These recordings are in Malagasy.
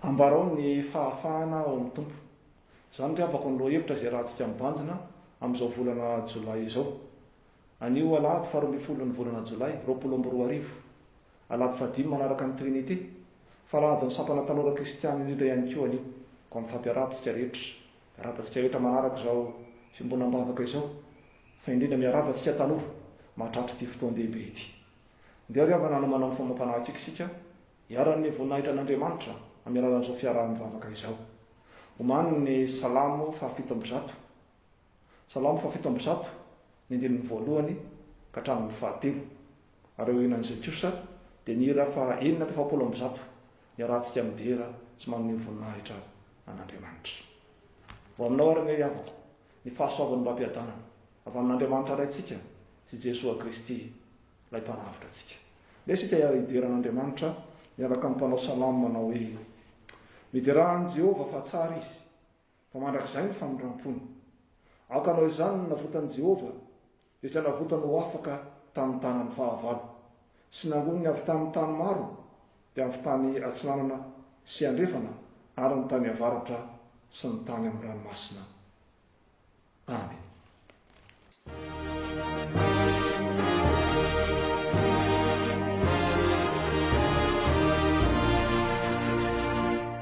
Ambarao ny fahafahana ao amin'ny Tompo. Izany ry havako ny lohahevitra izay rahantsika mibanjina amin'izao volana Jolay izao. Anio alahady faharoa ambin'ny folon'ny volana Jolay roapolo amby roa arivo, alahady fahadimy manaraka ny Trinite, fa alahadin'ny sampana tanora kristiana indrindra ihany koa anio, koa mifady araha tsika rehetra. Miarahaba antsika rehetra manaraka izao fiombonam-bavaka izao, fa indrindra miarahaba antsika tanora mahatratra ity fotoan-dehibe ity. Ndeha ry havana hanomana ny famam-panahintsika isika, iharan'ny voninahitra an'Andriamanitra amin'ny alalan'izao fiaraha-mivavaka izao. Omany ny Salamo fahafito amby zato, Salamo fahafito amby zato, ny andininy voalohany ka hatramin'ny fahatelo, ary aorianan'izay kosa dia ny hira faha enina ka efapolo amby zato. Iarahantsika midera sy manome voninahitra an'Andriamanitra. Ho aminao ary anie ry havako ny fahasoavan'ny raha-piadanana avy amin'Andriamanitra Raintsika sy Jesoa Kristy ilay Mpanavotra antsika. Ndeha isika hiara hidera an'Andriamanitra miaraka amin'ny mpanao salamo manao hoe, Miderà an'i Jehovah fa tsara izy, fa mandrakizay ny famindram-pony. Aoka hanao izany ny navotan'i Jehovah, Efa navotany ho afaka tamin'ny tanany fahavalo, sy nangoniny avy tamin'ny tany maro, dia avy tany atsinanana sy andrefana, ary ny tany avaratra sy ny tany amin'ny ranomasina. Amena.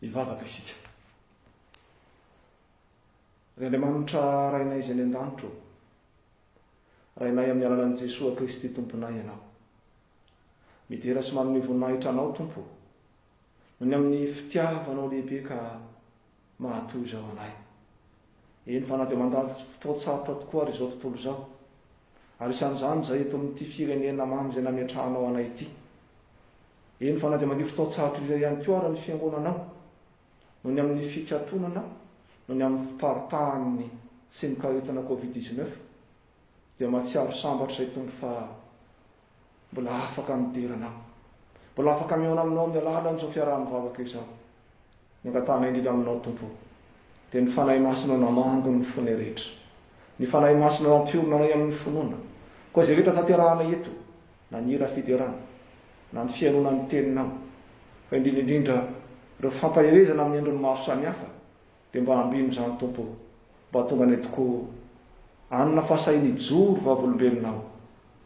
Hivavaka isika. Ry Andriamanitra Rainay izay any an-danitra ô, Rainay amin'ny alalan'i Jesoa Kristy Tomponay Ianao. Midera sy manome voninahitra Anao Tompo ô, noho ny amin'ny fitiavanao lehibe ka mahatoa izao anay. Eny fa na dia mandalo fotoan-tsarotra tokoa ary izao tontolo izao, ary isan'izany izay eto amin'ity firenena mamy izay nametrahanao anay ity. Eny fa na dia mandio fotoan-tsarotra iray ihany koa ary ny fiangonanao, noho ny amin'ny fikatonana noho ny amin'ny fiparitahan'ny tsimok'aretina covid dix-neuf, dia mahatsiaro sambatra i Tompo fa Mbola afaka midera anao. Mbola afaka mihaona aminao amin'ny alalan'izao fiaraha-mivavaka izao. Ny angatahanay indrindra aminao, Tompo ô, dia ny Fanahy Masinao namango ny fonay rehetra. Ny Fanahy Masinao hampiorina anay amin'ny finoana. Koa izay rehetra tanterahanay eto, na ny hira fiderana, na ny fihainoana ny Teninao, fa indrindra indrindra ireo fampaherezana amin'ny endriny maro samihafa, Dia mba ambino izany Tompo o! Mba atonga anay tokoa o! Anona fa sahy nijoro vavolombelona aho,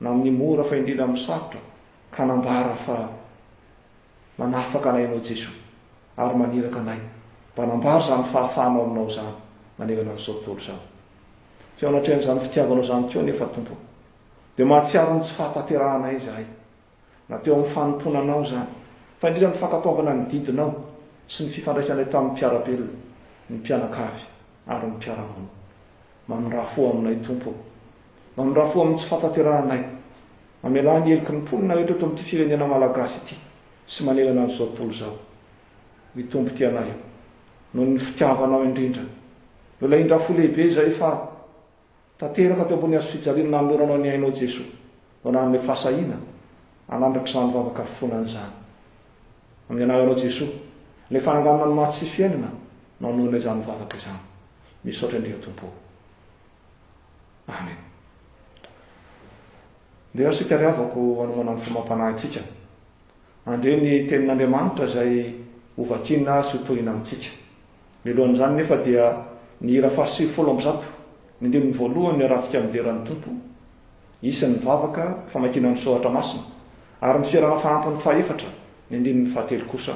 na amin'ny mora fa indrindra amin'ny sarotra, ka nambara fa manafaka anay Ianao Jesoa, ary maniraka anay mba hanambara izany fahafahanao aminao izany manerana an'izao tontolo izao. Feo anatrehan'izany fitiavanao izany koa anefa Tompo o! Dia mahatsiaro ny tsy fahatanterahanay izahay. Na teo amin'ny fanompoana anao izany. Fa indrindra ny fankatoavana ny didinao sy ny fifandraisanay tamin'ny mpiara-belona, ny mpianakavy ary ny mpiara-monina. Mamindrà fo aminay, Tompo ô. Mamindrà fo amin'ny tsy fahatanterahanay. Mamelà ny heloky ny mponina rehetra eto amin'ity firenena malagasy ity sy manerana an'izao tontolo izao. Ry Tompo tia anay ô. Noho ny fitiavanao indrindra. Nolahindrà fo lehibe izahay fa. Tanteraka teo ambony hazofijaliana nanoloranao ny ainao Jesoa no nanome fahasahiana hanandratra izany vavaka finoana izany. Amin'ny anaranao Jesoa, ilay fananganana ny maty sy fiainana no hanohina izany vavaka izany. Misaotra indrindra Tompo o. Amen. Ndeha isika ry havako hanomana ny fomam-panahintsika. Handre ny tenin'Andriamanitra izay hovakina sy hotohina amintsika. Mialohan'izany nefa dia ny hira fahasivy folo amby zato, ny andininy voalohany ny Haratsika Midera ny Tompo, isan'ny vavaka famakiana ny soratra masina, ary ny Fiarahana Fahampiny fahaefatra, ny andininy fahatelo kosa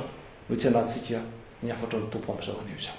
no itsianahantsika ny hafatry ny Tompo amin'izao anio izao.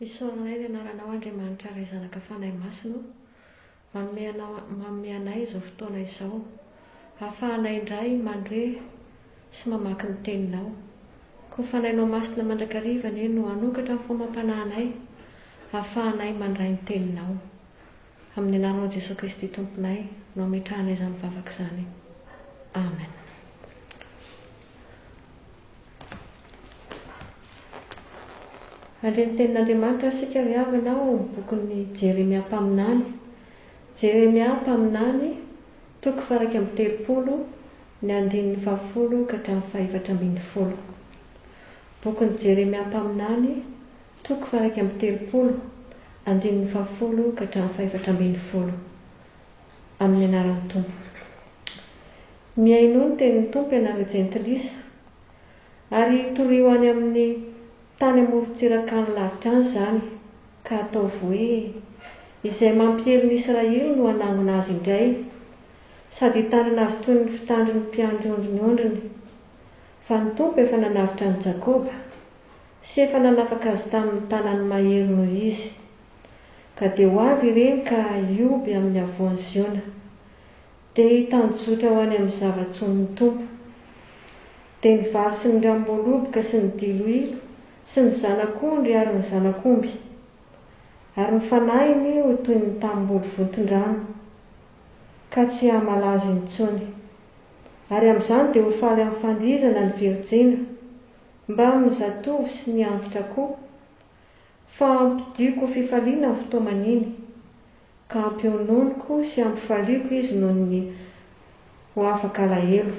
Isaorana Anay ny Anaranao Andriamanitra Ray Zanaka Fanahy Masina o! Manome Anao manome anay izao fotoana izao hahafahanay indray mandre sy mamaky ny Teninao. Koa Fanahinao Masina mandrakariva anie no hanokatra ny fo amam-panahinay hahafahanay mandray ny Teninao. Amin'ny Anaranao Jesoa Kristy Tomponay no ametrahanay izany vavaka izany. Amen. Handre ny tenin'Andriamanitra isika ry havana ao amin'ny bokin'i Jeremia mpaminany. Jeremia mpaminany, toko faharaika amby telopolo, ny andininy fahafolo ka hatramin'ny fahefatra ambin'ny folo. Bokin'i Jeremia mpaminany, toko faharaika amby telopolo, andininy fahafolo ka hatramin'ny fahefatra ambin'ny folo. amin'ny anaran'ny Tompo. Mihainoa ny tenin'ny Tompo ianareo jentilisa, ary torio any amin'ny tany amorontsiraka any lavitra any izany, ka ataovy hoe izay mampiely ny Israely no hanangona azy indray, sady hitandrina azy toy ny fitandrin'ny mpiandry ondry ny ondriny, fa ny Tompo efa nanavotra an'i Jakoba, sy efa nanafaka azy tamin'ny tanany mahery noho izy. Ka dia ho avy ireny ka hioby amin'ny havoan'i Ziona, dia hitanjozotra ho any amin'ny zava-tsonin'ny Tompo. Dia ny vary sy ny ranom-boaloboka sy ny diloilo sy ny zanak'ondry ary ny zanak'omby. Ary ny fanahiny ho toy ny tanimboly vonton-drano, ka tsy hamala azy intsony. Ary amin'izany dia ho faly amin'ny fandihizana ny virijina, mbamin'ny zatovo sy ny antitra koa. Fa ampidiko fifaliana ny fotoa maniny, ka ampiononiko sy ampifaliako izy noho ny ho afaka alahelo.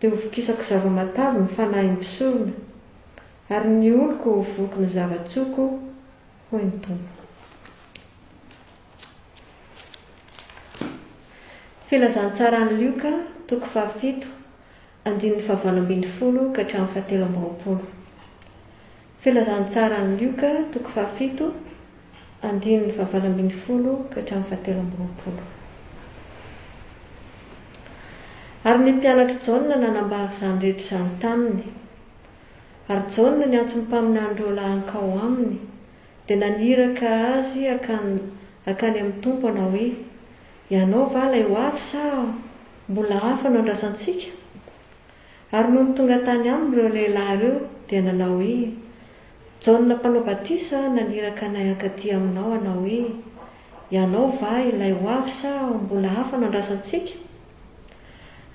Dia ho vokisako zava-matavy ny fanahin'ny mpisorona, ary ny oloko ho voky ny zava-tsoako, hoy ny Tompo. Filazantsaran'i Lioka, toko fahafito. Andininy fahavalo ambin'ny folo ka hatramin'ny fahatelo amby roapolo. Filazantsara an'i Lioka, toko fahafito, andininy fahavalo ambin'ny folo ka hatramin'ny fahatelo amby roapolo. Ary ny mpianatr'i Jaona nanambara izany rehetra izany taminy. Ary Jaona niantso ny mpaminan'ireo lahankao aminy, dia naniraka azy hakany, hakany amin'ny Tompo hanao hoe, Ianao va ilay ho avy sa mbola hafa no andrasantsika? Ary nony tonga tany aminy ireo lehilahy ireo, dia nanao hoe, Jaona Mpanao Batisa naniraka anay hankaty aminao hanao hoe, Ianao va ilay ho avy sa mbola hafa no andrasantsika?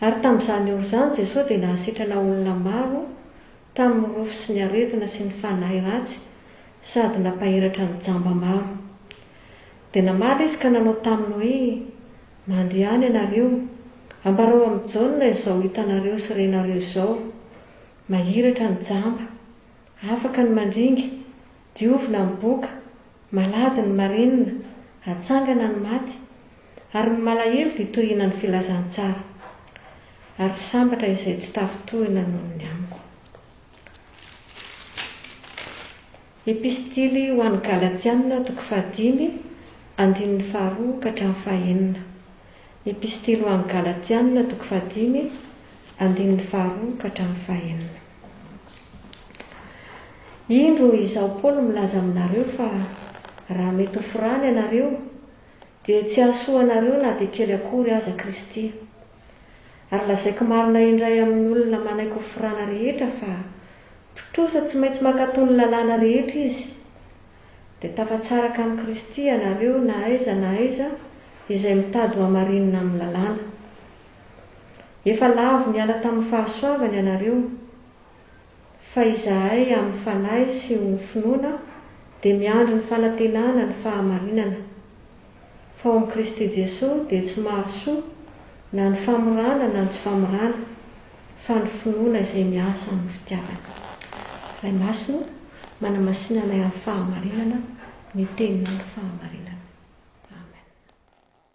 Ary tamin'izany ora izany Jesoa dia nahasitrana olona maro tamin'ny rofy sy ny aretina sy ny fanahy ratsy sady nampahiratra ny jamba maro. Dia namaly izy ka nanao taminy hoe, Mandehana ianareo, ambarao amin'i Jaona izao hitanareo sy renareo izao, Mahiratra ny jamba, afaka ny mandringa, Diovina ny boka, malady ny marenina, hatsangana ny maty, ary ny malahelo dia toy hina ny filazantsara, ary sambatra izay tsy tafintohina noho ny amiko. Epistily ho an'ny Galatiana, toko fahadimy, andininy faharoa ka hatramin'ny fahenina. Epistily ho an'ny Galatiana, toko fahadimy, andininy faharoa ka hatramin'ny fahenina. Indro izaho Paoly milaza aminareo fa raha mety ho forana ianareo, dia tsy hahasoa anareo na dia kely akory aza Kristy. Ary lazaiko marina indray amin'ny olona manaiky ho forana rehetra fa mpitrosa tsy maintsy mankatò ny lalàna rehetra izy. Dia tafatsaraka amin'i Kristy ianareo na aiza na aiza izay mitady ho hamarinina amin'ny lalàna. Efa lavo niala tamin'ny fahasoavany ianareo, fa izahay amin'ny Fanahy sy ho ny finoana dia miandry ny fanantenana ny fahamarinana, fa ao amin'i Kristy Jesoa dia tsy mahasoa na ny famorana na ny tsy famorana, fa ny finoana izay miasa amin'ny fitiavana. Ray Masina, manamasina anay amin'ny fahamarinana, ny Teninao no fahamarinana. Amen.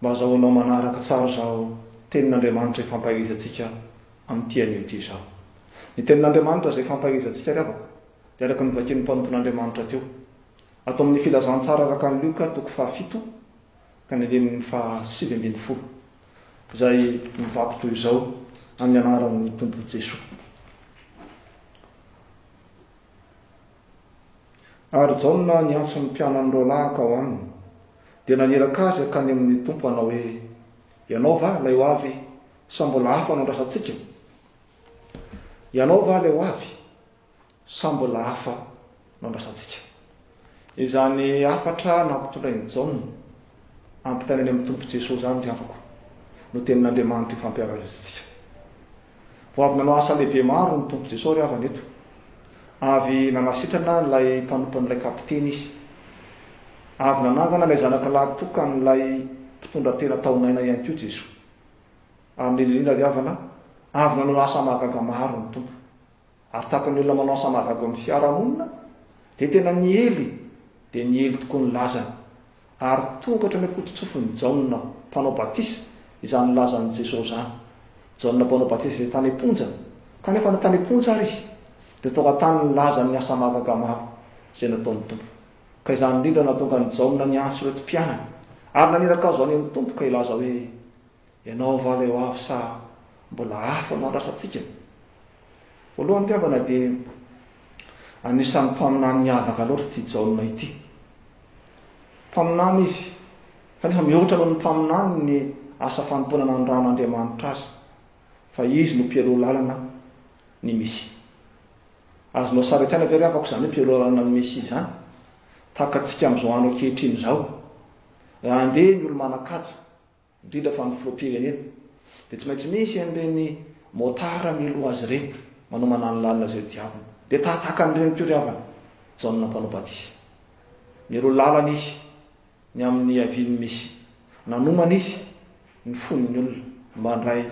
Mba azahoanao manaraka tsara izao tenin'Andriamanitra ifampaelezantsika amin'ity anio ity izao. Ny tenin'Andriamanitra izay ifampaelezantsika ry havako dia araka ny vakin'ny mpanompon'Andriamanitra teo ato amin'ny Filazantsara araka an'i Lioka toko fahafito ka ny andininy faha sivy ambin'ny folo izay mivaky toy izao amin'ny anaran'ny Tompo Jesoa. Ary Jaona niantso ny mpianany roalahaka ao aminy, dia naniraka azy hankany amin' ny Tompo hanao hoe, Ianao va ilay ho avy, sa mbola hafa no andrasantsika? Ianao va ilay ho avy, sa mbola hafa no andrasantsika? Izany hafatra nampitondrain' i Jaona hampitaina any amin' ny Tompo Jesoa izany ry havako no tenin' Andriamanitra ifampiarazintsika. Vao avy nanao asa lehibe maro ny Tompo Jesosy ry havana eto. Avy nanasitrana an'ilay mpanompon'ilay kapiteny Izy. Avy nanangana ilay zanaka lahy tokan'ilay mpitondra tena taonaina ihany koa Jesoa. Amen indrindra ry havana, avy nanao asa mahagaga maro ny Tompo. ary tsapan'ny olona manao samagago amin'ny fiarahamonina dia tena niely dia niely tokoa ny lazany ary tonga hatrany am-pototsofin'i Jaona mpanao batisa izany lazan'i Jesosy izany. Jaona mpanao batisa izay tany am-ponja, kanefa na tany am-ponja ary izy dia tonga tany ny lazan'ny asa mahagaga maro izay nataon'ny Tompo. Ka izany indrindra no nahatonga an'i Jaona niantso ireto mpianany ary naniraka azy ho any amin'ny Tompo ka hilaza hoe. Ianao va le hoavy sa mbola hafa no andrasantsika? Voalohany mpihambana dia anisan'ny mpaminany miavaka loatra ity Jaona ity. Mpaminany izy, kanefa mihoatra noho ny mpaminany ny asa fanompoana nandrahan'Andriamanitra azy, fa izy no mpialoha lalana ny Mesia. Azonao sary an-tsaina ve ry havako izany hoe mpialoha lalana ny Mesia izany? Tahaka antsika amin'izao andro ankehitriny izao, raha andeha ny olo-manan-kaja indrindra fa ny filoham-pirenena dia tsy maintsy misy an'ireny motard miloha azy ireny manao mananolalina izay diaviny dia tahataka an'i reniko ry havana Jaona mpanao batisa mialoha lalana izy ny amin'ny havian'ny Mesia nanomana izy ny fon'ny olona mba handray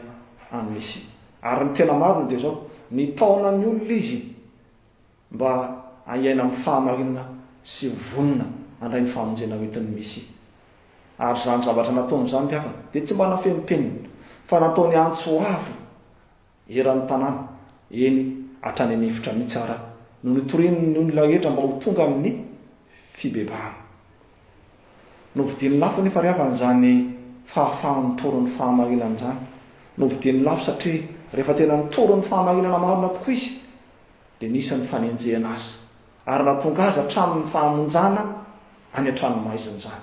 an'i Mesia ary ny tena marina dia izao nitaona ny olona izy mba hahiaina amin'ny fahamarinana sy ho vonona handray ny famonjena ho entin'ny Mesia. Ary izany zavatra nataony izany ry havana dia tsy mba nafen'ny penina, fa nataony antso avo eran'ny tanàna, eny, hatrany an'efitra mihitsy ara, no nitorian'ny olona rehetra mba ho tonga amin'ny fibebahana. Novidiany lafo anefa ry havana izany fahafahany mitory ny fahamarinana izany. Novidiany lafo satria rehefa tena nitory ny fahamarinana marina tokoa izy, dia nisy ny fanenjehana azy ary nahatonga azy hatramin'ny fahamonjana any an-tranomaizina izany.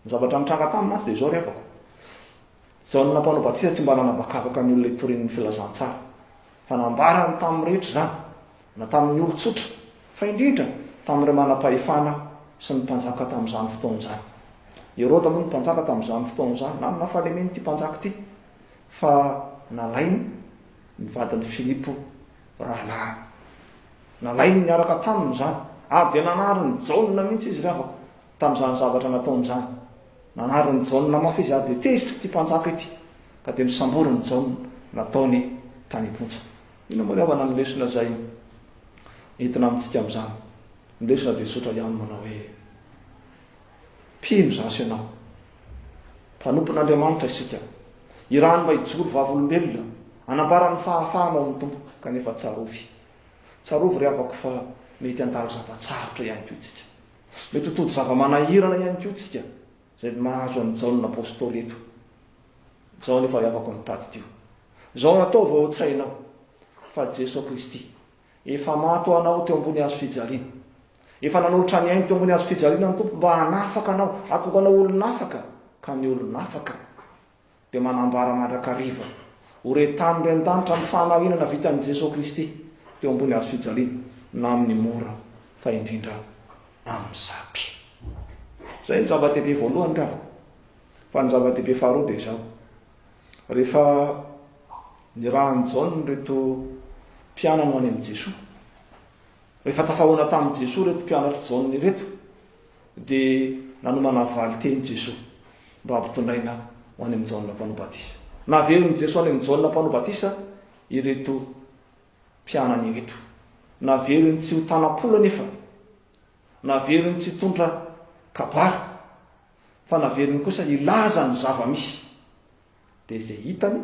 Ny zavatra nitranga taminy mantsy dia izao ry havako. Jaona Mpanao Batisa tsy mba nanabakabaka ny olona hitoriany ny filazantsara, fa nambarany tamin'ny rehetra izany, na tamin'ny olon-tsotra, fa indrindra tamin'ireo manam-pahefana sy ny mpanjaka tamin'izany fotoana izany. I Heroda moa no mpanjaka tamin'izany fotoana izany. Nanana fahalemena ity mpanjaka ity, fa nalainy ny vadin'i Filipo. Rahalahy. Nalainy niaraka taminy izany, ary dia nanarin'i Jaona mihitsy izy ry havako, tamin'izany zavatra nataony izany. Nanarin'i Jaona mafy izy, ary dia tezitra ity mpanjaka ity, ka dia nosamborin'i Jaona, nataony tany am-ponja. Inona moa ry havana ny lesona izay entina amintsika amin'izany? Ny lesona dia tsotra ihany, manao hoe. Mpino zaho sy ianao. Mpanompon'Andriamanitra isika. Irany mba hijoro vavolombelona, hanambara ny fahafahana ao amin'ny Tompo, kanefa tsarovy. Tsarovy ry havako fa mety handalo zava-tsarotra ihany koa isika. Mety ho tody zava-manahirana ihany koa isika, izay mahazo an'i Jaona Apostoly eto. Izao anefa ry havako no tadidio. Izao no ataovy ao an-tsainao, fa Jeso Kristy. Efa maty ho anao teo ambony hazo fijaliana. Efa nanolotra ny ainy teo ambony hazo fijaliana ny Tompo mba hanafaka anao, hahatonga anao olon'afaka, ka ny olon'afaka dia manambara mandrakariva ho re tamin'ireo an-danitra ny fahamarinana vitan'i Jesoa Kristy teo ambony hazo fijaliana na amin'ny mora fa indrindra amin'ny sarotra. Izay ny zava-dehibe voalohany ry havana. Fa ny zava-dehibe faharoa dia izao, rehefa Nirahan'i Jaona ireto mpianany ho any amin'i Jesoa. Rehefa tafahoana tamin'i Jesoa ireto mpianatr'i Jaona ireto, dia nanomana valin-teny Jesoa mba hampitondraina ho any amin'i Jaona Mpanao Batisa. Naverin'i Jesoa any amin'i Jaona Mpanao Batisa ireto mpianany ireto. Naveriny tsy ho tanam-polo anefa, naveriny tsy hitondra kabary, fa naveriny kosa hilaza ny zava-misy. Dia izay hitany,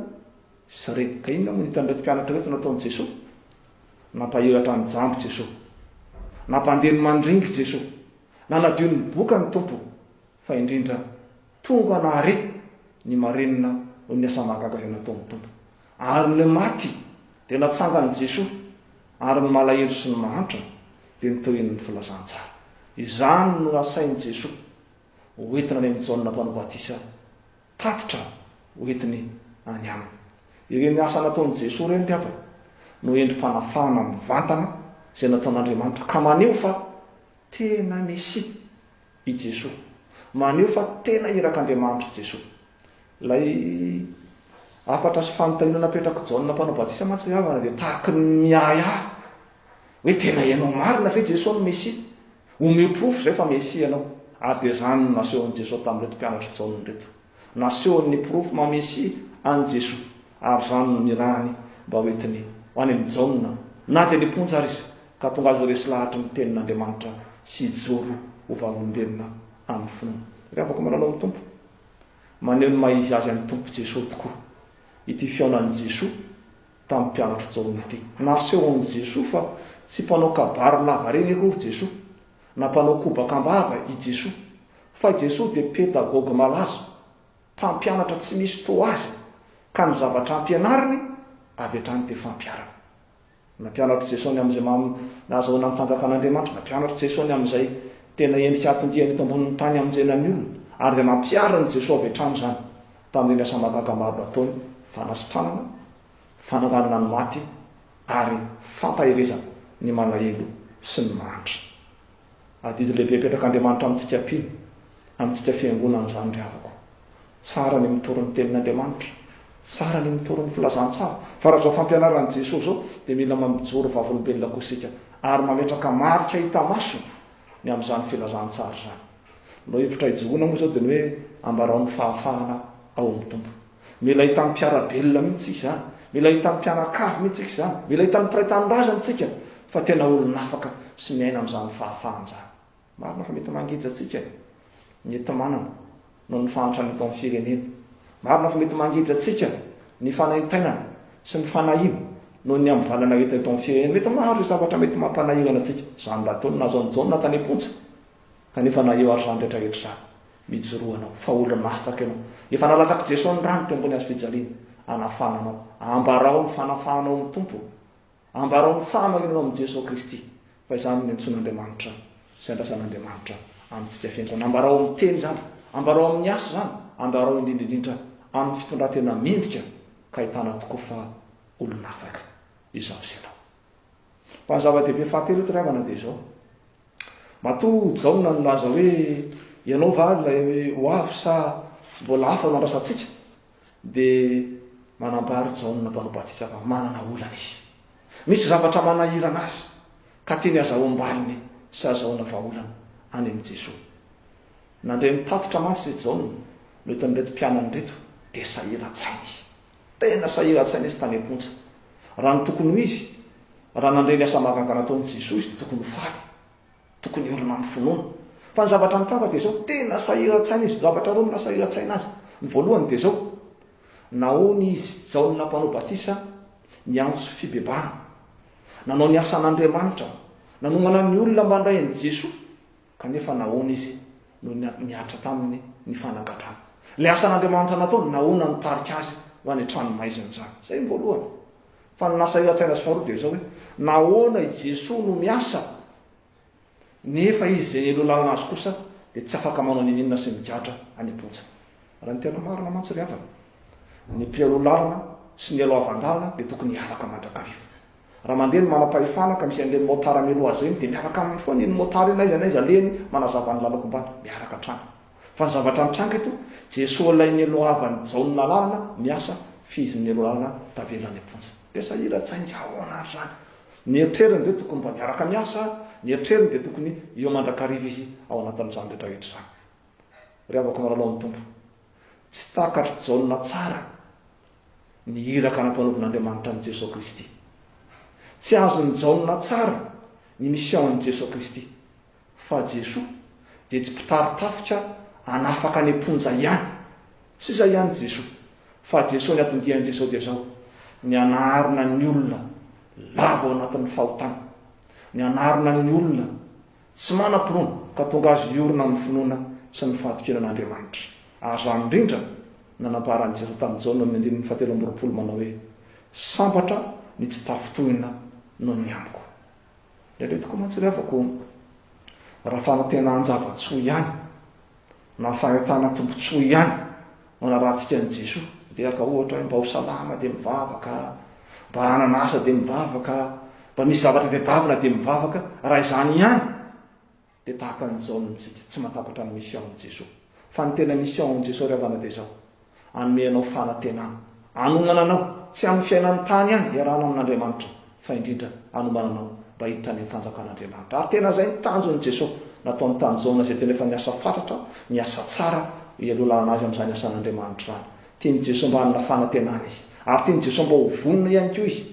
sy repoka inona moa no hitan'ireto mpianatra ireto nataon'i Jesoa? Nampahiratra ny jamba i Jesoa. Nampandeha ny mandringa i Jesoa. Nanadio ny boka ny Tompo. Fa indrindra, tonga nahare ny marenina noho ny asa mahagaga izay nataon'ny Tompo. Ary ny maty dia natsangan'i Jesoa, ary ny malahelo sy ny mahantra dia notohin'ny filazantsara. Izany no nasain'i Jesoa hoentina any amin'i Jaona Mpanao Batisa Tatitra hoentiny any aminy. Ireny asa nataon'i Jesoa ireny ngamba no endri-panafahana mivantana izay nataon'Andriamanitra ka maneho fa tena Mesia i Jesoa, maneho fa tena irak'Andriamanitra i Jesoa. Ilay hafatra sy fanontaniana napetrak'i Jaona Mpanao Batisa mantsy ry havana dia tahaky ny miahiahy hoe tena ianao marina ve Jesoa no Mesia? Omeo porofo izay fa Mesia ianao. Ary dia izany no nasehon'i Jesoa tamin'ireto mpianatr'i Jaona ireto. Nasehony ny porofo maha Mesia an'i Jesoa, ary izany no nirahany mba ho entiny ho any amin'i Jaona, na dia niponja ary izy, ka tonga azy ho resy lahatry ny Tenin'Andriamanitra sy hijoro ho vavolombelona amin'ny finoana. Ry havako manana ao amin'ny Tompo, maneho ny maha-izy Azy an'i Tompo Jesoa tokoa ity fihaonan'i Jesoa, tamin'ny mpianatry Jaona teo. Naseho amin'i Jesoa fa tsy mpanao kabary lavareny akory Jesoa, na mpanao kobaka am-bava i Jesoa, fa i Jesoa dia pedagogy malaza, mpampianatra tsy misy toa azy, ka ny zavatra ampianariny avy hatrany dia fampiharana. Nampianatr'i Jesoa ny amin'izay maha nahazoana ny fanjakan'Andriamanitra, nampianatr'i Jesoa ny amin'izay tena endrika hatondiany eto ambonin'ny tany hamonjena ny olona, ary dia nampiharin'i Jesoa avy hatrany izany. Tamin'ireny asa mahagaga maro nataony, fanasitranana, fananganana ny maty, ary fampaherezana ny malahelo sy ny mahantra. Adidy lehibe apetrak'Andriamanitra amintsika mpino, amintsika fiangonana izany ry havako. Tsara ny mitory ny Tenin'Andriamanitra, tsara ny mitory ny filazantsara, fa raha izao fampianaran'i Jesoa izao dia mila mamijoro vavolombelona koa isika ary mametraka marika hita maso ny amin'izany filazantsara izany. Ilay hevitra hijoroana moa izao dia ny hoe ambarao ny fahafahana ao amin'ny Tompo. Mila hitan'ny mpiara-belona mihitsy isika izany, mila hitan'ny mpianakavy mihitsy isika izany, mila hitan'ny mpiray tanindrazana isika fa tena olona afaka sy miaina amin'izany fahafahana izany. Marina fa mety mangeja antsika ny enti-manana noho ny fahantrana eto amin'ny firenena. Marina fa mety mangeja antsika ny fanaintainana sy ny fanahiana noho ny amivalana hita eto amin'ny firenena. Mety maro ireo zavatra mety mampanahirana antsika. Izany raha ataon'i Nazon Jaona tany am-ponja. Kanefa na eo ary izany rehetra rehetra izany, mijoroa anao fa olo-masaka ianao. Efa nalatsak'i Jesoa ny rany teo ambony hazo fijaliana, hanafana anao. Ambarao ny fanafahanao amin'ny Tompo. Ambarao ny fahamarinanao amin'i Jesoa Kristy, fa izany no niantsoan'Andriamanitra sy andrasan'Andriamanitra amintsika feno izany. Ambarao amin'ny teny izany. Ambarao amin'ny asa izany. Ambarao indrindra indrindra amin'ny fitondran-tena mendrika ka ahitana tokoa fa olo-nafaka izaho sy ianao. Fa ny zava-dehibe fahatelo eto ry havana dia izao. Matoa Jaona nilaza hoe, Ianao va ilay ho avy sa mbola hafa no handrasantsika? dia manambara Jaona Mpanao Batisa fa manana olana izy. Misy zavatra manahirana azy, ka tiany hazahoam-baliny sy hazahoana vahaolana any amin'i Jesoa. Nandre ny tatitra mantsy Jaona noentin'ireto mpianany ireto, dia sahirantsaina izy. Tena sahiran-tsaina izy tany am-ponja. Raha ny tokony ho izy, raha nandre ny asa mahagaga nataon'i Jesoa izy dia tokony ho faly. Tokony hiorina amin'ny finoana. Fa ny zavatra nitava dia izao, tena sahiran-tsaina izy. Zavatra roa no nahasahiran-tsaina azy. Ny voalohany dia izao, nahoana izy, Jaona Mpanao Batisa, niantso fibebahana? Nanao ny asan'Andriamanitra. Nanomana ny olona mba handray an'i Jesoa. Kanefa nahoana izy no nihatra taminy ny fanagadrana? Ilay asan'Andriamanitra nataony, nahoana no nitarika azy ho any an-trano maizina izany? Izay ny voalohany. Fa ny nasahiran-tsaina azy faharoa dia izao hoe, nahoana i Jesoa no miasa, nefa izy izay nialoha lalana azy kosa dia tsy afaka manao n'inon'inona sy migadra any am-ponja? Raha ny tena marina mantsy ry havana, ny mpialoha lalana sy ny nialoha havan-dalana dia tokony hiaraka mandrakariva. Raha mandeha ny manam-pahefana ka misy an'ireny motard mialoha azy ireny dia miaraka aminy foana iny motard iny n'aiza n'aiza alehany manazava ny lalako mba miaraka hatrany. Fa ny zavatra mitranga eto, Jesoa ilay nielohavan'i Jaona lalana miasa f'izy ny nialoha lalana tavela any am-ponja. Dia sahira tsaingy ahoana ary izany? Ny eritreriny ve tokony mba miaraka miasa? Ny eritreriny dia tokony eo mandrakariva izy ao anatin'izany rehetra rehetra izany. Ry havako malalao ny Tompo, tsy takatr'i Jaona tsara. Ny iraka nampanaovin'Andriamanitra an'i Jesoa Kristy. Tsy azon'i Jaona tsara ny misiaon'i Jesoa Kristy, fa Jesoa dia tsy mpitari-tafika hanafaka any am-ponja ihany. Tsy izay ihany Jesoa, fa Jesoa niatondian'i Jesoa dia izao, ny hanarina ny olona lavo ao anatin'ny fahotana, ny hanarina ny olona, Tsy manam-pinoana ka tonga azy hiorina amin'ny finoana sy ny fahatokiana an'Andriamanitra. Aza indrindra nanampaharan'i Jesoa tamin'i Jaona amin'ny andininy fahatelo amby roapolo manao hoe, Sambatra ny tsy tafintohina noho ny amiko. Indraindray tokoa mantsy ry havako, raha fanantenanjava-tsoa ihany, Na fahatana tombotsoa ihany no anarahantsika an'i Jesoa. Dia ka ohatra hoe mba ho salama dia mivavaka, mba hanana asa dia mivavaka, mba misy zavatra tadiavina dia mivavaka. Raha izany ihany dia tahaka an'i Jaona isika, tsy mahatakatra ny mission an'i Jesoa. Fa ny tena mission an'i Jesoa ry havana dia izao. Hanome anao fanantenana. Hanohana anao, tsy amin'ny fiainan'ny tany ihany iarahana amin'Andriamanitra, fa indrindra hanomana anao mba hiditra any amin'ny fanjakan'Andriamanitra. Ary tena izay ny tanjon'i Jesosy. Nataony tamin'i Jaona izay tena efa niasa fatratra, niasa tsara, hialohalana azy amin'izany asan'Andriamanitra izany. Tian'i Jesosy mba hanana fanantenana izy. Ary tian'i Jesosy mba ho vonona ihany koa izy.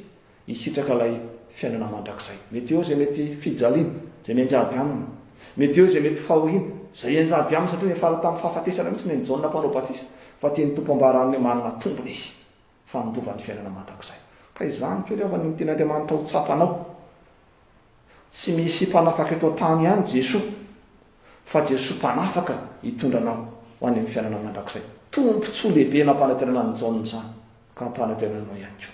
Hisitraka ilay fiainana mandrakizay. Mety eo izay mety fijaliana, izay mianjady aminy. Mety eo izay mety fahoriana, izay hianjady aminy satria niafara tamin'ny fahafatesana mihitsy neny Jaona Mpanao Batisa fa tian'ny Tompo hambara aminy hoe manana tombony izy fa handova ny fiainana mandrakizay. Ka izany koa ry havana no tian' Andriamanitra ho tsapanao. Tsy misy mpanafaka eto an-tany ihany Jesoa fa Jesoa mpanafaka hitondra anao ho any amin'ny fiainana mandrakizay. Tombontsoa lehibe nampanantenana an'i Jaona izany ka hampanantenana anao ihany koa.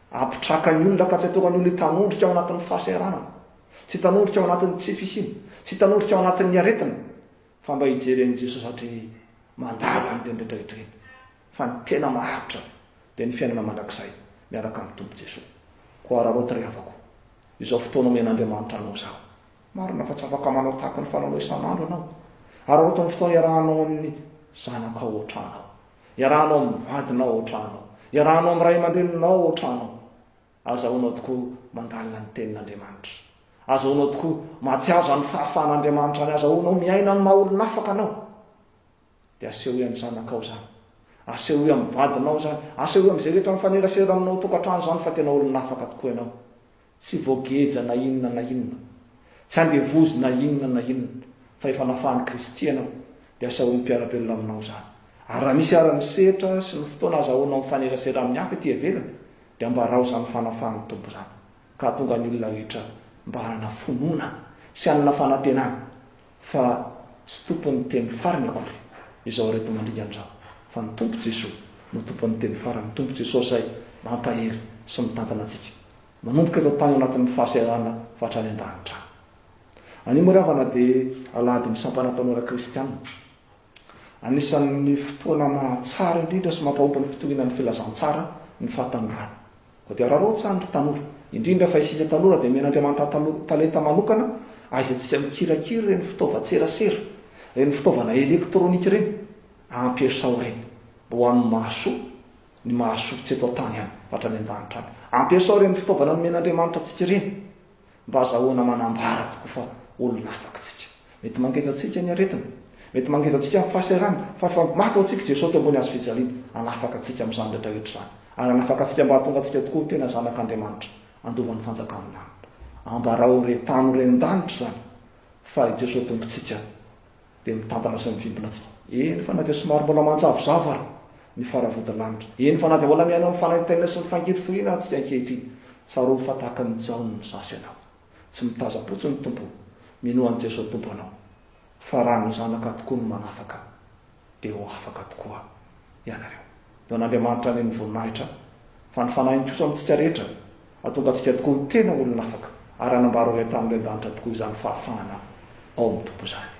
Ampitrakan'ny olona fa tsy ataon'ny olona hitanondrika ao anatin'ny fahasahiranana, tsy hitanondrika ao anatin'ny tsy fisiana, tsy hitanondrika ao anatin'ny aretina, fa mba hijery an'i Jesosy hatry ny mandala an'ireny rehetra rehetra ireny. Fa ny tena maharitra dia ny fiainana mandrakizay miaraka amin'ny Tompo Jesosy. Koa araraoty ry havako, izao fotoana omen'Andriamanitra anao izao. Marina fa tsy afaka manao tahaka ny fanaonao isan'andro ianao. Araraoty ny fotoana iarahanao amin'ny zanakao ohatranao. Iarahanao amin'ny vadinao ao an-tranonao. Iarahanao amin'ny ray aman-dreninao ao an-tranonao. Azahoanao tokoa mandalina ny Tenin'Andriamanitra. Azahoanao tokoa mahatsiaro izany fahafahan'Andriamanitra izany. Azahoanao miaina amin'ny maha olona afaka anao. Dia asehoy amin'ny zanakao izany. Asehoy amin'ny vadinao izany. Asehoy amin'izay rehetra mifanerasera aminao ao an-tokantrano izany fa tena olona afaka tokoa ianao. Tsy voageja na inona na inona, tsy andevozina inona na inona, fa efa nafahan'i Kristy ianao, dia asahoany mpiara-belona aminao izany. Ary raha misy ary ny setra sy ny fotoana azahoanao mifanerasera amin'ny hafa ety ivelany, dia ambarao izany fanafahan'ny Tompo izany, ka hahatonga ny olona rehetra mba hanana fonona sy hanana fanantenana fa tsy tompon'ny teny farany akory izao ireto mandringa an'izao fa ny Tompo Jesoa no tompon'ny teny farany, Tompo Jesoa izay mampahery sy mitantana antsika manomboka eto an-tany ao anatin'ny fahaseharana fa hatrany an-danitra any. Anio moa ry havana dia alahadin'ny sampana mpanora kristiana. Anisan'ny fotoana mahatsara indrindra sy mampahomby ny fitoriana ny filazantsara ny fahatanjahana. Koa dia araraotsany ry tanora, indrindra fa isika tanora dia omen'Andriamanitra talenta manokana ahaizatsika mikirakira ireny fitaovan-tserasera, ireny fitaovana elektronika ireny, ampiasao ireny mba ho amin'ny mahasoa ny mahasoa tsy eto an-tany ihany fa hatrany an-danitra any. Ampiasao ireny fitaovana nomen'Andriamanitra antsika ireny. Mba azahoana manambara tokoa fa olona afaka isika. Mety mangeja antsika ny aretina. Mety mangeja antsika ny fahasairana. Fa efa maty ho antsika i Jesoa teo ambony hazo fijaliana. Hanafaka antsika amin'izany rehetra rehetra izany. Ary hanafaka antsika mba hahatonga antsika tokoa ho tena zanak'Andriamanitra, handova ny fanjakan'ny lanitra. Ambarao ireny tany ireny an-danitra izany fa i Jesoa Tompontsika dia mitantana sy mivimbina tsy. Eny fa na dia somary mbola manjavozavo ary ny faravodilanitra, eny fa na dia mbola mihaino amin'ny fanaintainana sy ny fangiriforiana aza isika ankehitriny, tsarovy fa tahaka an'i Jaona ny zaza ianao. Tsy mitazam-potsiny ny Tompo o! Minoa an'i Jesoa Tompo anao. Fa raha ny zanaka tokoa no manafaka. dia ho afaka tokoa ianareo. Eo an'Andriamanitra any ny voninahitra, fa ny fanahiny kosa amintsika rehetra, hahatonga antsika tokoa ho tena olona afaka, ary hanambara ho entanin'ilay an-danitra tokoa izany fahafahana ao amin'ny Tompo izany.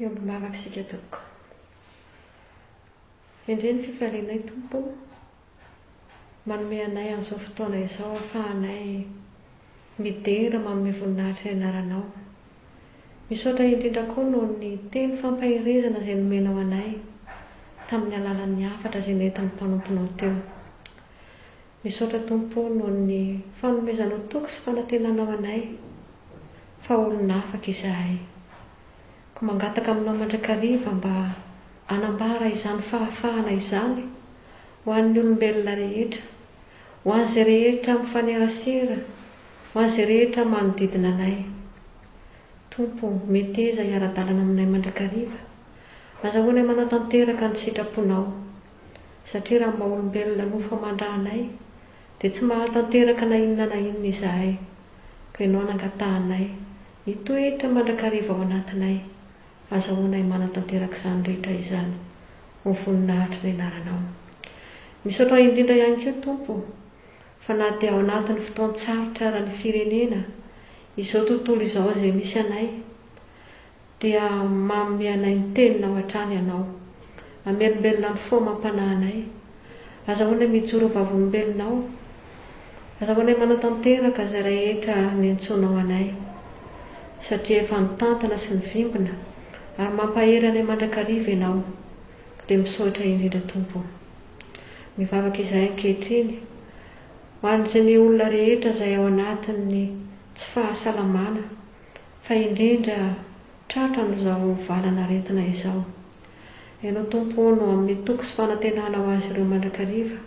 Miombo mivavaka isika tompoko. Endrey ny fifalianay Tompo o! Manome anay an'izao fotoana izao ahafahanay midera manome voninahitra ny anaranao. Misaotra indrindra koa noho ny teny fampaherezana izay nomenao anay tamin'ny alalan'ny hafatra izay nentin'ny mpanomponao teo. Misaotra Tompo noho ny fanomezanao toky sy fanantenanao anay fa olona afaka izahay. Ko mangataka aminao mandrakariva mba anambara izany fahafahana izany ho an'ny olombelona rehetra, ho an'izay rehetra mifanerasera, ho an'izay rehetra manodidina anay. Tompo o, meteza hiara-dalana aminay mandrakariva. Azahoanay manatanteraka ny sitraponao. satria raha ny maha olombelona no famandra anay, dia tsy mahatanteraka na inona na inona izahay, ka Ianao no angatahanay, hitoetra mandrakariva ao anatinay, azahoanay manatanteraka izany rehetra izany, ho voninahitry ny Anaranao. Misaotra indrindra ihany koa, Tompo, fa na dia ao anatin'ny fotoan-tsarotra eran'ny firenena, izao tontolo izao izay misy anay, Dia manome anay ny Teninao hatrany Ianao. Hamelombelona ny fo amam-panahinay. Azahoanay mijoro ho vavolombelonao. Azahoanay manatanteraka izay rehetra niantsoanao anay. Satria efa nitantana sy nivimbina ary mampahery anay mandrakariva Ianao. Dia misaotra indrindra Tompo. Mivavaka izahay ankehitriny ho an'izay ny olona rehetra izay ao anatin'ny tsy fahasalamana. Fa indrindra, tratra amin'izao valan'aretina izao. Ianao Tompo ô no amin'ny toky sy fanantenana ho azy ireo mandrakariva.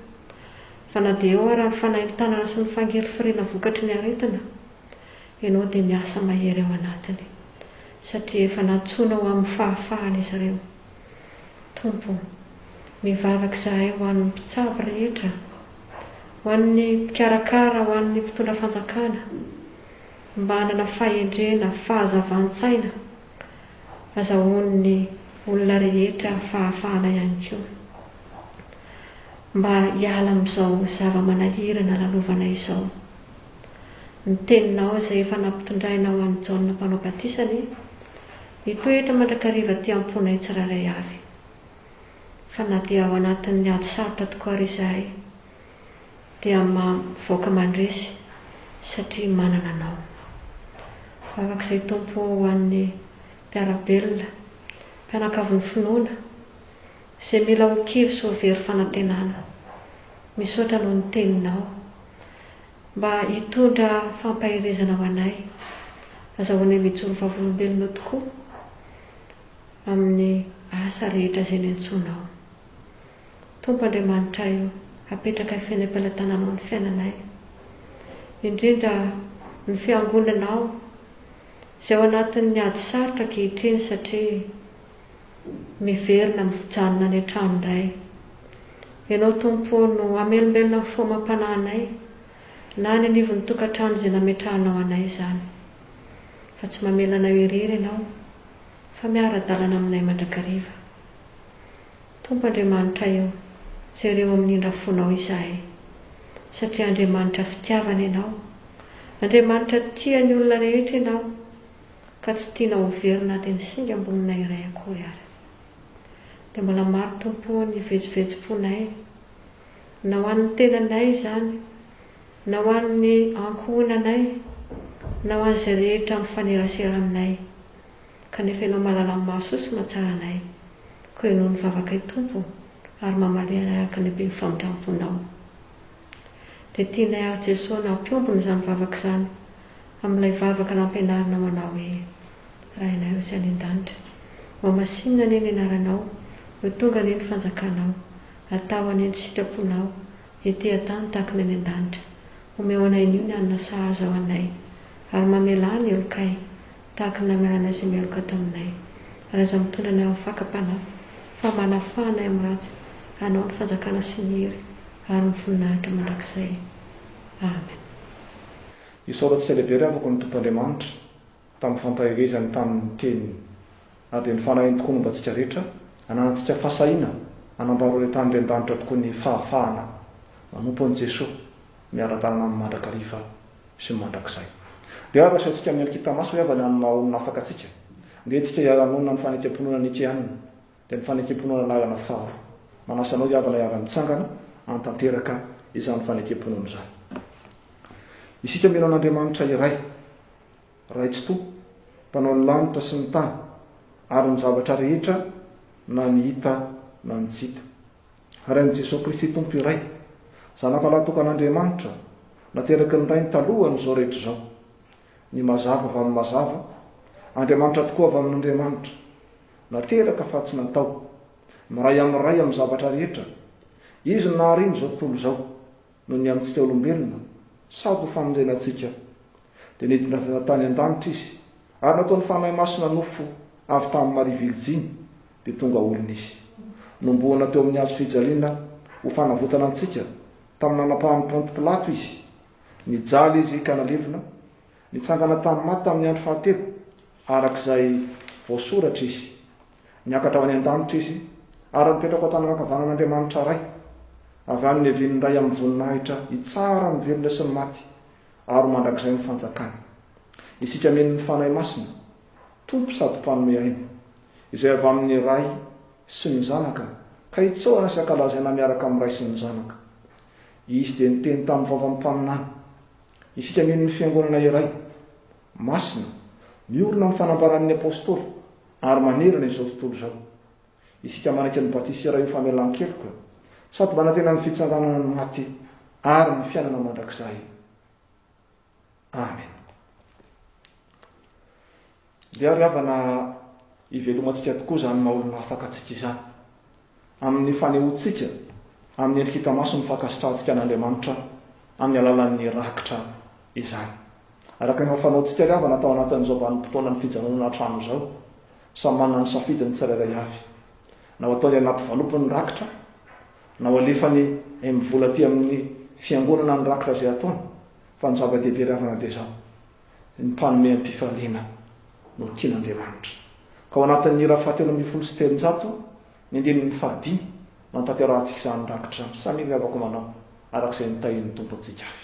Fa na dia eo ara ny fanaintanana sy ny fangelifiriana vokatry ny aretina, Ianao dia miasa mahery ao anatiny, satria efa nantsoinao amin'ny fahafahana izy ireo. Tompo, mivavaka izahay ho an'ny mpitsabo rehetra, ho an'ny mpikarakara, ho an'ny mpitondra fanjakana, Mba hanana fahendrena, fahazavan-tsaina, azahoan'ny olona rehetra fahafahana ihany koa. Mba hiala amin'izao zava-manahirana lalovana izao. Ny teninao izay efa nampitondrainao an'i Jaona Mpanao Batisa anie, hitoetra mandrakariva aty am-ponay tsirairay avy. Fa na dia ao anatin'ny ady sarotra tokoa ary izahay, dia mivoaka mandresy satria manana anao. Vavak'izay Tompo ho an'ny mpiara-belona, mpianakavin'ny finoana, izay mila ho kivy sy ho very fanantenana. Misaotra noho ny Teninao. Mba hitondra fampaherezana ho anay, azahoanay mijoro vavolombelona tokoa amin'ny asa rehetra izay niantsoanao. Tompo Andriamanitray o, apetrakay fenepelatananao ny fiainanay, indrindra ny fiangonanao izay ao anatin'ny ady sarotra ankehitriny satria miverina mijanona any an-trano indray. Ianao Tompo o no hamelombelona ny fo amam-panahinay na any anivon'ny tokantrano izay nametrahanao anay izany. Fa tsy mamela anay ho irery Ianao fa miara-dalana aminay mandrakariva. Tompo Andriamanitra eo, jereo amin'ny indra fonao izahay, satria Andriamanitra fitiavana Ianao. Andriamanitra tia ny olona rehetra Ianao, ka tsy tianao ho very na dia ny singam-boninay iray akory ara. Dia mbola maro Tompo o ny vetsovetsom-ponay, na ho an'ny tenanay izany, na ho an'ny ankohonanay, na ho an'izay rehetra mifanerasera aminay. kanefa Ianao mahalala ny mahasoa sy mahatsara anay. Koa henoy ny vavakay, Tompo, ary mamaliha anay araka ny haben'ny famindram-ponao. Dia tianay àry, Jesoa, na hampiombona izany vavaka izany amin'ilay vavaka nampianarinao manao hoe, Rainay Ozy any An-danitra, ho hamasinina anie ny Anaranao, ho tonga anie ny Fanjakanao, atao anie ny sitraponao, ety an-tany tahaka ny any An-danitra. Omeo anay anio ny hanina sahaza ho anay, ary mamelà ny helokay. tahaka ny namelanay izay mialoka taminay. Raha izaho mitondra anay amin'ny fakam-panahy, fa manafaha anay amin'ny ratsy, anao ny fanjakana sy ny hery ary ny voninahitra mandrakizay. Amen. Isaora tsy ela be ilay afaka ny Tompo Andriamanitra tamin'ny fampaherezany tamin'ny Teniny. Na dia ny fanahiny tokoa momba antsika rehetra, ananantsika fahasahiana hanambara ireo tany ren-danitra tokoa ny fahafahana manompo an'i Jesoa miara-dalana aminy mandrakariva. sy ny mandrakizay. Dia ary asaintsika mialikita maso ry havana amin'ny maha-olona afaka antsika. Andeha antsika hiara-monina amin'ny fanekemponona Nikeana, dia ny fanekemponona laharana faharoa. Manasa anao ry havana hiara-mitsangana hanatanteraka izany fanekemponona izany. Isika mino an'Andriamanitra iray, Ray Tsitoha, Mpanao ny lanitra sy ny tany ary ny zavatra rehetra na ny hita na ny tsy hita. Ary amin'i Jesoa Kristy Tompo iray, Zanakalahy tokan'Andriamanitra, nateraky ny Rainy talohan'izao rehetra izao, ny Mazava avy amin'ny Mazava, Andriamanitra tokoa avy amin'Andriamanitra, nateraka fa tsy natao, miray amin'ny Ray amin'ny zavatra rehetra, Izy no naharino izao tontolo izao. noho ny amintsika olombelona, sady ho famonjena antsika. Dia nidina avy any an-tany an-danitra Izy, ary nataon'ny Fanahy Masina nofo avy tamin'i Maria Virjiny, dia tonga olona Izy. Nombohana teo amin'ny hazo fijaliana ho fanavotana antsika, tamin'ny nanapahan'i Ponto Pilato Izy. Nijaly Izy ka nalevina, nitsangana tamin'ny maty tamin'ny andro fahatelo, araka izay voasoratra Izy. Niakatra ho any an-danitra izy, ary nipetraka ao an-tany ankavanan'Andriamanitra Ray, avy any niavian'ny Ray amin'ny voninahitra hitsara ny velona sy ny maty, ary ho mandrakizay ny fanjakany. Isika mino ny Fanahy Masina, Tompo sady Mpanome aina, izay avy amin'ny Ray sy ny Zanaka, ka hitsaorana sy hankalazaina miaraka amin'ny Ray sy ny Zanaka. Izy dia niteny tamin'ny vavan'ny mpaminany. Isika mino ny Fiangonana iray, masina, miorina amin'ny fanambaran'ny Apostoly. Ary manerana izao tontolo izao. Isika manaitra ny batisa raha io famelan-keloka sady manantena ny fitsanganana ny maty ary ny fiainana mandrakizay. Amena. Dia ry havana, hivelomantsika tokoa izany maha-olona afaka antsika izany. Amin'ny fanehoantsika amin'ny endrika hita maso ny fankasitrahantsika an'Andriamanitra amin'ny alalan'ny rakitra izany. Araka ny fanaontsika ry havana tao anatin'izao vanim-potoanan'ny fijanonana an-trano izao, samy manana ny safidiny tsirairay avy. Na ho ataony anaty valopy ny rakitra, na ho alefany mivola aty amin'ny Fiangonana ny rakitra izay ataony, fa ny zava-dehibe ry havana dia izao. ny mpanome am-pifaliana no tian'Andriamanitra. Ka ao anatin'ny ora fahatelo ambin'ny folo sy telonjato, ny andininy fahadimy, no hantanterahantsika izany rakitra misamiravako manao araka izay nitahian'ny Tompo antsika avy.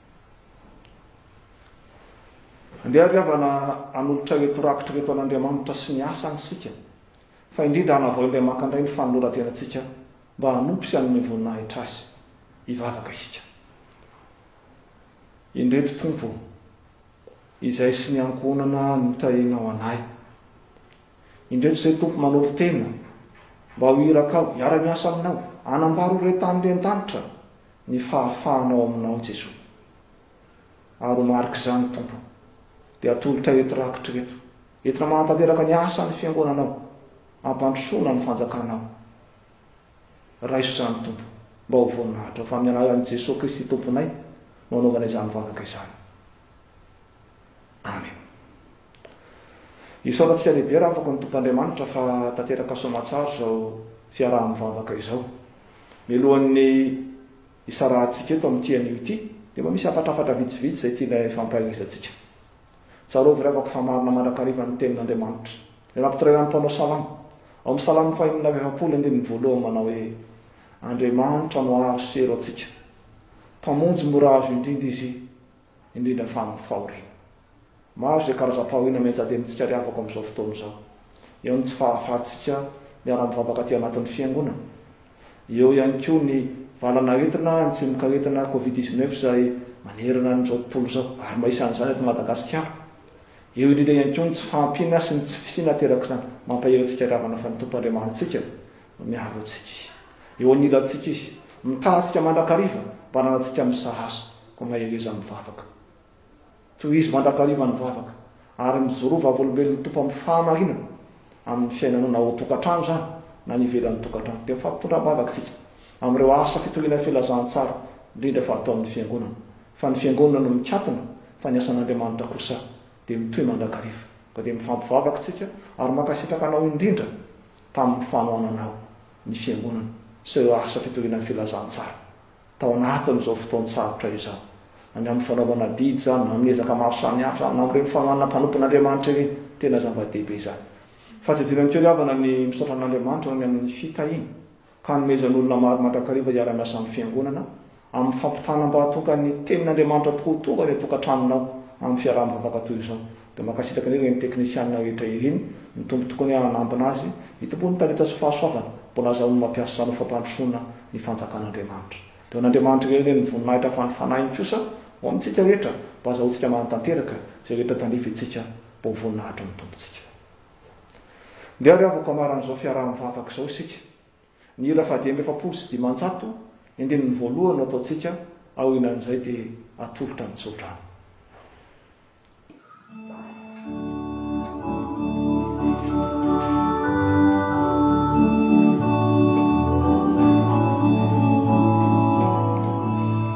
Andeha àry havana hanolotra ireto rakitra ireto an'Andriamanitra sy ny asany isika, fa indrindra hanavao indray maka indray ny fanoloran-tenantsika mba hanompo sy hanome voninahitra azy. Hivavaka isika. Indreto, Tompo ô, izay sy ny ankohonana nitahianao anay. Indreto zay Tompo manolo tena mba ho irakao, hiara-miasa aminao, hanambaro ho re tany re an-danitra ny fahafahanao aminao Jesoa. Ary ho marik'izany Tompo dia atolotray eto rakitra eto, entina manatanteraka ny asan'ny fiangonanao, hampandrosoana ny fanjakanao. Raiso izany Tompo mba ho voninahitrao, fa amin'ny alalan'i Jesoa Kristy Tomponay no anaovana izany vavaka izany. Amen. Isaorantsika lehibe raha afaka ny Tompo Andriamanitra fa tanteraka soamatsara izao fiaraha-mivavaka izao. Mialohan'ny hisarahantsika eto amin'ity anio ity dia mba misy hafatrafatra vitsivitsy izay tiana hifampahaelezantsika. Tsarovy ry havako fa marina mandrakariva ny tenin'Andriamanitra. Ilay nampitarainan'ny mpanao salamo, ao amin'ny salamo fahenina amby efapolo andininy voalohany manao hoe, Andriamanitra no aro sy helo antsika. Mpamonjy mora azo indrindra Izy. indrindra fa amin'ny fahoriana. Maro izay karazam-pahoriana mihaja dia mitsika ary avako amin'izao fotoana izao. Eo ny tsy fahafahantsika miara-mivavaka aty anatin'ny Fiangonana. Eo ihany koa ny valanaretina, ny tsimokaretina Covid dix neuf izay manerana an'izao tontolo izao, ary mba isan'izany eto Madagasikara. Eo indrindra ihany koa ny tsy fahampiana sy ny tsy fisiana aterak'izany. Mampahery antsika ary havana fa ny Tompo Andriamanitsika Miaro antsika Izy. Eo anilantsika Izy. Mitaha antsika mandrakariva mba hananantsika misahasa ka mahereza amin'ny vavaka. Tohizo mandrakariva ny vavaka ary mijoroa vavolombelon'ny Tompo amin'ny fahamarinana amin'ny fiainanao na ao an-tokantrano izany na any ivelan'ny tokantrano. Dia mifampitondram-bavaka isika amin'ireo asa fitoriana filazantsara indrindra fa atao amin'ny Fiangonana. Fa ny Fiangonana no mikatona fa ny asan'Andriamanitra kosa dia mitohy mandrakariva. Ka dia mifampivavaka isika ary mankasitraka anao indrindra tamin'ny fanohanana ny Fiangonana sy ireo asa fitoriana ny filazantsara tao anatin'izao fotoan-tsarotra izao, na ny amin'ny fanaovana adidy izany, na amin'ny ezaka maro samihafa izany, na amin'ireny fanohanana mpanompon'Andriamanitra ireny. Tena zava-dehibe izany. Fahatsidiana ny toe-havana ny misaotra an'Andriamanitra ho any amin'ny fitahiana. Hanomezan'olona maro mandrakariva hiara-miasa amin'ny Fiangonana amin'ny fampitana mba hahatonga ny Tenin'Andriamanitra tokoa ho tonga any an-tokantranonao amin'ny fiaraha-mivavaka toy izao. Dia mankasitraka an'ireo eny teknisianina rehetra Eline, ny Tompo tokoany a hanambina azy, ny Tompo ny talenta sy fahasoavana, mbola azahoany mampiasa anao fampandrosoana ny fanjakan'Andriamanitra. Dia ho an'Andriamanitra irery anie ny voninahitra fa ny Fanahiny kosa ho amintsika rehetra mba azahoantsika manatanteraka izay rehetra tandrifintsika mba ho voninahitry ny Tompontsika. Ndeha ary havako hamaran'izao fiaraha-mivavaka izao isika. Ny hira fahadimy amby efapolo sy dimanjato, andininy voalohany no ataontsika, aorinan'izay dia atolotra ny tsodrano.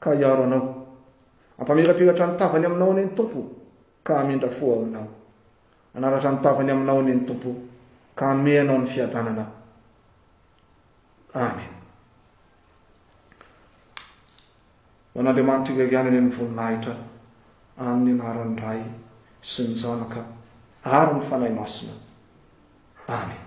ka hiaro anao. Hampamirapiratra ny tavany aminao anie ny Tompo, ka hamindra fo ao aminao. Hanaratra ny tavany aminao anie ny Tompo, ka hanome anao ny fiadanana. Amen. Ho an'Andriamanitra irery ihany anie ny voninahitra, amin'ny anaran'ny Ray sy ny Zanaka ary ny Fanahy Masina. Amen.